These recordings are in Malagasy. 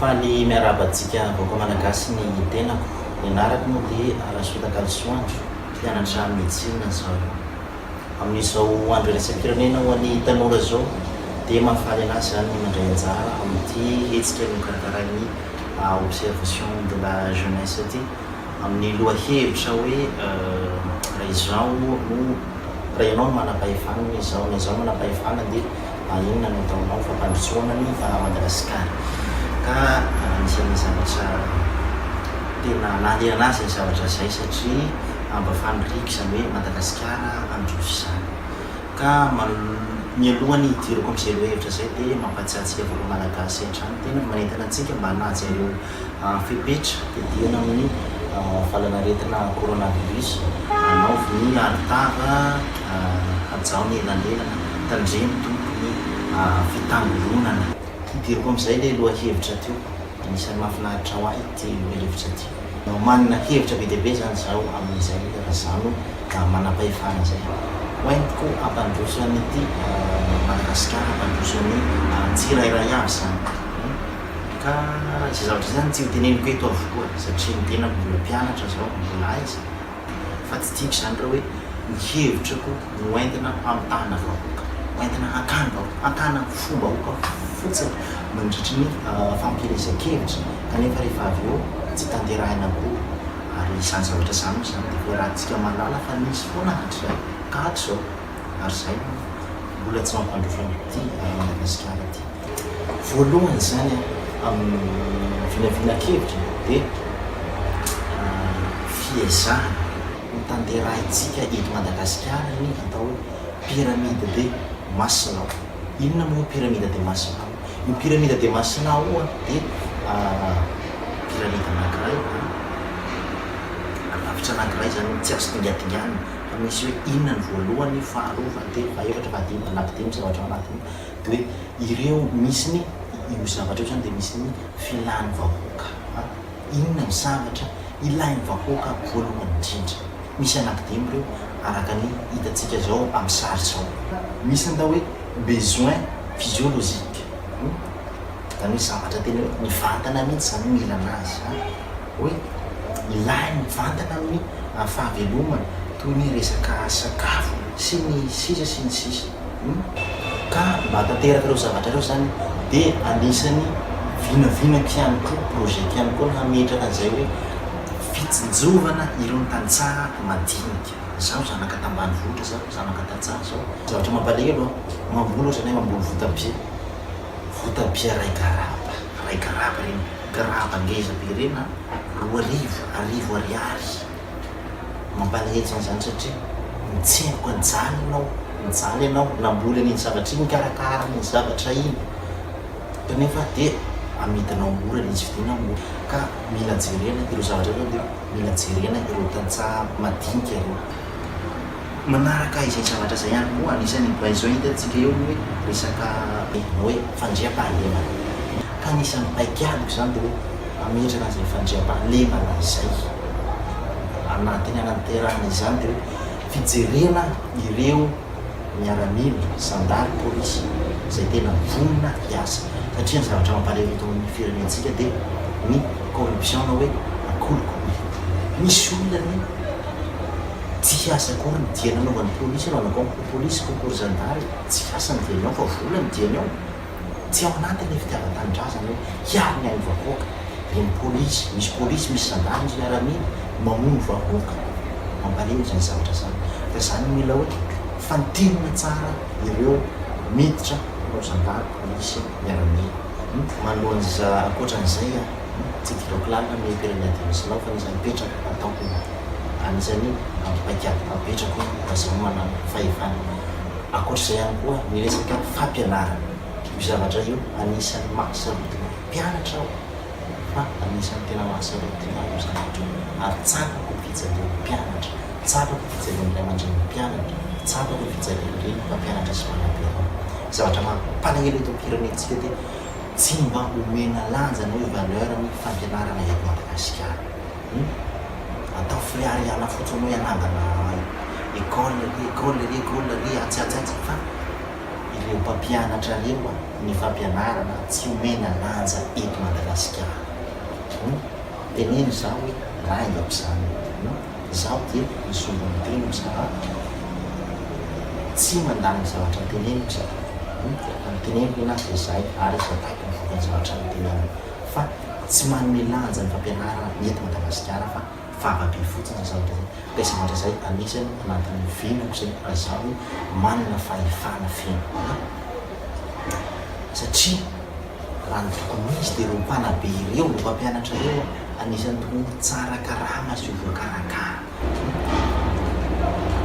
Fa ny miarahaba antsika vahoaka Malagasy ny tenako, ny anarako moa dia Rasotakalosoandro, mpianatra medecine zaho. Amin'izao andro iraisam-pirenena ho an'ny tanora izao dia mahafaly an'ahy izany ny mandray anjara amin'ity hetsika nokarakarai'ny Observation de la Jeunesse ity. amin'ny lohahevitra hoe raha izaho no raha ianao no manam-pahefana na izaho na izaho no manam-pahefana dia inona no ataonao fampandrosoana ny Madagasikara ka anisan'ny zavatra tena nahaliana azy izay zavatra izay satria mba faniriako izany hoe Madagasikara handroso izany ka mialohan'ny hidirako amin'izay lohahevitra izay dia mampahatsiahy antsika vahoaka malagasy hatrany tena manentana antsika mba hanaja ireo fepetra didiana amin'ny valanaretina coronavirus anaovy ny aritava hajao ny elanelana tandremo tompoko ny fitangoronana. Hidiriko amin'izay ilay lohahevitra teo. Anisan'ny mahafinaritra ho ahy ity lohahevitra ity. Manana hevitra be dia be izany izaho amin'izay raha izaho no manam-pahefana izay. Ho entiko hampandroso an'ity Madagasikara, hampandroso ny tsirairay avy izany. Ka izay zavatra izay zany tsy hoteneniko eto avokoa satria ny tenako mbola mpianatra izao, mbola aiza. Fa tsy tiako izany raha hoe ny hevitrako no entina hamitahana vahoaka, entina hakana vahoaka, hakana fom-bahoaka fotsiny mandritry ny fampielezan-kevitra kanefa rehefa avy eo tsy tanterahina akory. Ary izany zavatra izany moa izany dia efa iarahantsika mahalala fa nisy foana hatrizay ka hatrizao. Ary izay no mbola tsy mampandroso an'ity Madagasikara ity. Voalohany izany amin'ny vinavinan-kevitra dia fiezahana ho tanterahintsika eto Madagasikara iny atao hoe pyramide de Maslow. Inona moa io pyramide de Maslow io? Io pyramide de Maslow io dia pyramide anankiray, rafitra anankiray izany hoe tsy azo dingadinganina fa misy hoe inona ny voalohany, faharoa, fahatelo, fahefatra, fahadimy, fanampidimy, zavatra ao anatiny. Dia hoe ireo misy ny, io zavatra io izany dia misy ny filan'ny vahoaka a! Inona ny zavatra ilain'ny vahoaka voalohany indrindra? Misy anankidimy ireo araka ny hitantsika izao amin'ny sary izao. Misy ny atao hoe besoin physiologique, izany hoe zavatra tena hoe mivantana mihitsy izany no ilana azy a! hoe ilainy mivantana amin'ny fahavelomana toy ny resaka sakafo sy ny sisa sy ny sisa hum ka mba tanteraka ireo zavatra ireo izany dia anisan'ny vinavinako ihany koa projet-ko ihany koa ny hametraka an'izay hoe fitsinjovana irony tantsaha madinika izaho zanaka tambanivohitra izaho zanaka tantsaha izao zavatra mampalahelo an mamboly ohatra ianay mamboly votabia votabia iray garaba Iray graba ireny, graba ngeza be ireny an, roa arivo, arivo ariary. Mampalahelo zany zany satria mitsemboka nijaly ianao, nijaly ianao, namboly an'iny zavatra iny, nikarakara an'iny zavatra iny, kanefa dia amidinao mora ilay izy, vidiana mora. Ka mila jerena ireo zavatra ireo dia mila jerena ireo tantsaha madinika ireo. Manaraka izay zavatra izay ihany koa anisan'ny bay izao hitantsika eo ny hoe resaka Noe, fandriampahalemana. Ka anisan'ny paikadiko izany dia hoe hametraka an'izay fandriampahalemana izay anatiny hanaterana izany dia hoe fijerena ireo miaramila, zandary, polisy izay tena vonona hiasa satria ny zavatra mampalahelo eto amin'ny firenentsika dia ny corruption na hoe akolikoly. Misy olona ny. Tsy hiasa akory ny diany anaovan'ny polisy raha anao koa polisy koa akory zandary e! Tsy hiasa ny diany ao fa vola ny diany ao! Tsy ao anatin'ny fitiavan-tanindrazana hoe hiaro ny ain'ny vahoaka ireny polisy, misy polisy, misy zandary, misy miaramila mamono vahoaka! Mampalemy izany zavatra izany fa izany no mila hoe fantinina tsara ireo miditra mpanao zandary, polisy, miaramila. Manoloana ankoatran'izay an! Tsy gidaoko lalina ny hira ny adidy misy anao fa nisy nipetraka hataoko ny anisany ampipaikady apetrako hoe mba zao no manano fahefana ankoatra izay ihany koa ny resaka fampianarana io zavatra io anisany maha sarotiny ny mpianatra aho fa anisany tena maha sarotiny ahy io zavatra io ary tsapako ny fijalian'ny mpianatra tsapako ny fijalian'ny ray aman-drenin'ny mpianatra tsapako ny fijalian'ny reny mpampianatra sy mpanabe anao zavatra mampalahelo eto ampirenentsika ity Tsy mba omena lanja na hoe valeur ny fampianarana eto Madagasikara. Hum. Atao freariana fotsiny hoe anangana école re, école re, école re, atsy, atsy, atsy, fa ireo mpampianatra reo a, ny fampianarana tsy omena lanja eto Madagasikara. Hum. Teneno za hoe raha i Abzan no Dina, zaho dia mizoro ny teniko sa tsy mandany ny zavatra teneniko izy avy eo. Ny teneniko ny anazy dia zay ary izy ataoko ny vokany zavatra noteneniny fa tsy manome lanja ny fampianarana ny eto Madagasikara fa favabe fotsiny zay zavatra zay dia zavatra zay anisany nampiovenako zay raha zaho manana fahefana feno satria Raha ny tokony ho izy dia ireo mpanabe ireo, ireo mpampianatra ireo anisan'ny tokony ho tsara karama sy ho voakarakara.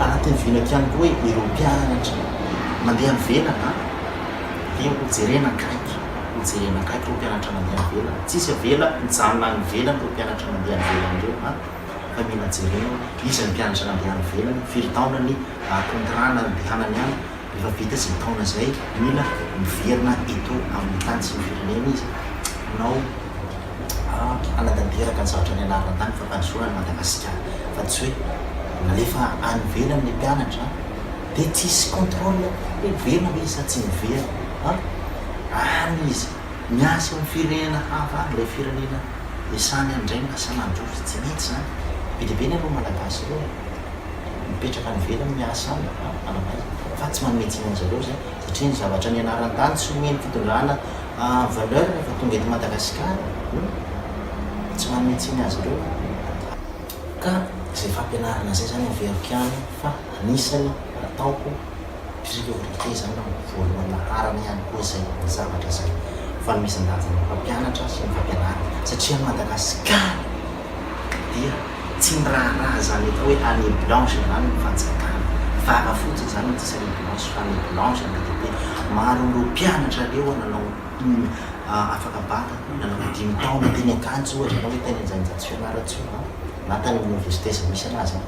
Anatin'ny vinako ihany koa hoe ireo mpianatra mandeha any ivelany dia ho jerena akaiky, ho jerena akaiky ireo mpianatra mandeha any ivelany. Tsy hisy avela hijanona any ivelany ireo mpianatra mandeha any ivelany ireo an! Fa mila jerena hoe iza ny mpianatra nandeha any ivelany, firy taona ny contrat nandehanany any, Efa vita zay taona zay Luna miverina eto amin'ny tany sy ny firenena izy hanao hanatanteraka ny zavatra nianarana tany fampandrosoana an'i Madagasikara fa tsy hoe alefa any ivelany ny mpianatra dia tsisy contrôle hoe miverina ve izy sa tsy miverina fa any izy miasa eo amin'ny firenena hafa any ilay firenena iasany any indray no lasa mandroso tsy mety izany be dia be ny anareo malagasy ireo e. mipetraka any ivelany miasa any raha ananaiza fa tsy manome tsiny an'zareo izay satria ny zavatra nianarany tany tsy omeny fitondrana valeur rehefa tonga eto Madagasikara no tsy manome tsiny azy ireo ka izay fampianarana izay izany averiko ihany fa anisany ataoko priorité izany na voalohany laharana ihany koa izay ny zavatra izay fanomezan-danja ny mpampianatra sy ny fampianarana satria any Madagasikara Dia tsy miraharaha izany atao hoe année blanche izany ny fanjakana. Vava fotsiny izany no tsy misy année blanche fa année blanche ny ATP. Maro amin'ireo mpianatra aleha nanao afaka bac nanana dimy taona teny Ankatso ohatra na hoe tany Anjainjato Fianarantsoa na tany amin'ny université izay misy anazy any.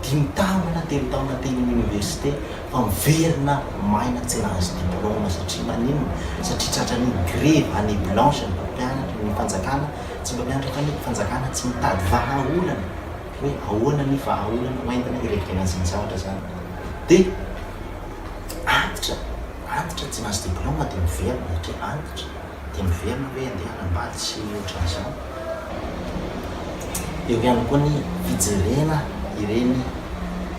Dimy taona na telo taona teny amin'ny université fa miverina maina tsy nahazo diplôme satria maninona? Satria tratran'ny grevy, année blanche ny mpampianatra, ny fanjakana. Tsy mba miantra kanefa fanjakana tsy mitady vahaolana hoe ahoana ny vahaolana ho entina hirevirana izany zavatra izany dia antitra antitra tsy nahazo diplaoma dia miverina satria antitra dia miverina hoe andeha hanambady sy ny ohatran'izany. Eo ihany koa ny fijerena ireny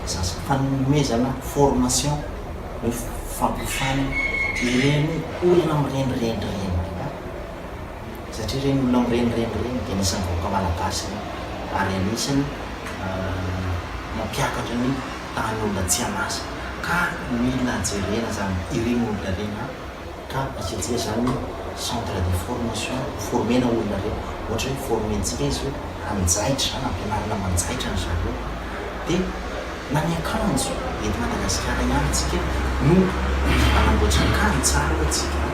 zaza fanomezana formation hoe fampiasana ireny olona mirenireny ireny. Satria ireny olona mirenireny ireny dia anisan'ny vahoaka malagasy ireny ary anisan'ny mampiakatra ny tahan'olona tsy an'asa ka mila jerena izany ireny olona ireny an! ka asiantsika izany centre de formation ho former-na olona ireny ohatra hoe former-ntsika izy hoe hanjaitra izany, hampianarina manjaitra an-dry zareo dia na ny akanjo eto Madagasikara ihany isika no hanamboatra akanjo tsara hoy isika an!